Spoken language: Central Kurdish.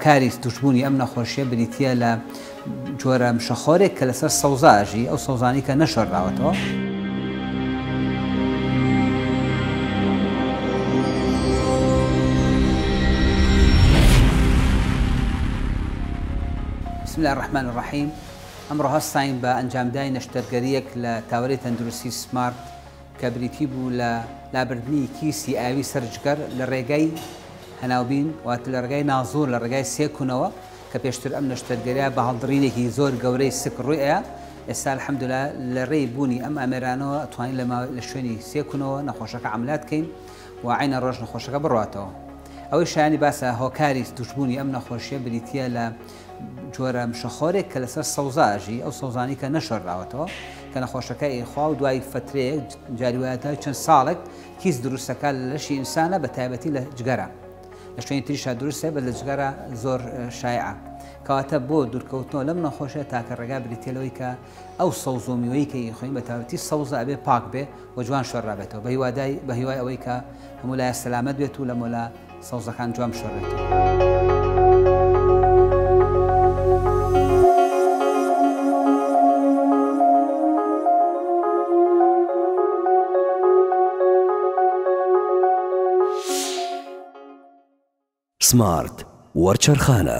کاریز، توشبوونی ئەم نەخۆشییە بریتییە لە جۆرە مشەخۆرێک کە لەسەر سەوزا ئەژی، ئەو سەوزانەی کە نەشۆرراوەتەوە. بسم اللە الرحمن الرحیم، ئەمڕۆ هەستاین بە ئەنجامدانی نەشتەرگەرییەک لە تاوەرەی تەندروستی سمارت، کە بریتی بوو لە لابردنی کیسی ئاوی سەر جگەر لە ڕێگای هەناوبین واتە لە ڕێگای نازوور لە ڕێگای سێ کونەوە کە پێشتر ئەم نەشتەرگەریە بە هەڵدڕینێکی زۆر گەورەی سک ڕووی ئەیا ئێستا الحمدللە لە ڕێی بوونی ئەم ئامێرانەوە توانین لە ماوەی لە شوێنی سێ کونەوە نەخۆشەکە عملات بکەین و عینە ڕۆژ نەخۆشەکە بڕاتەوە ئەوەی شایانی باسە هۆکاری توشبوونی ئەم نەخۆشیە بریتە لە جۆرە مشەخۆرێک کە لەسەر سەوزا ئەژی ئەو سەوزانی کە نەشۆراوەتەوە کە نەخۆشەکە ئێخوا و دوای فترەیەک جاریوایەتە چەند ساڵێک کیس دروستەکە لەشی ئینسانە بە تایبەتی لە جگەرە لە شوێنی تریشا دروستە بە لە جگەرە زۆر شایعە کەواتە بۆ دوورکەوتنەوە لەم نەخۆشە تاکە ڕێگا بریتێلەوەی کە ئەو سەوز و میوەی کە ئیخۆین بە تاوتی سەوزە ئەبێ پاک بێ و جوان شۆرابێتەوە بە هیوادای بە هیوای ئەوەی کە هەموو لایە سەلامەت بێت و لە مۆلا سەوزەکان جوان شۆرێتەوە. سمارت وەرچەرخانە.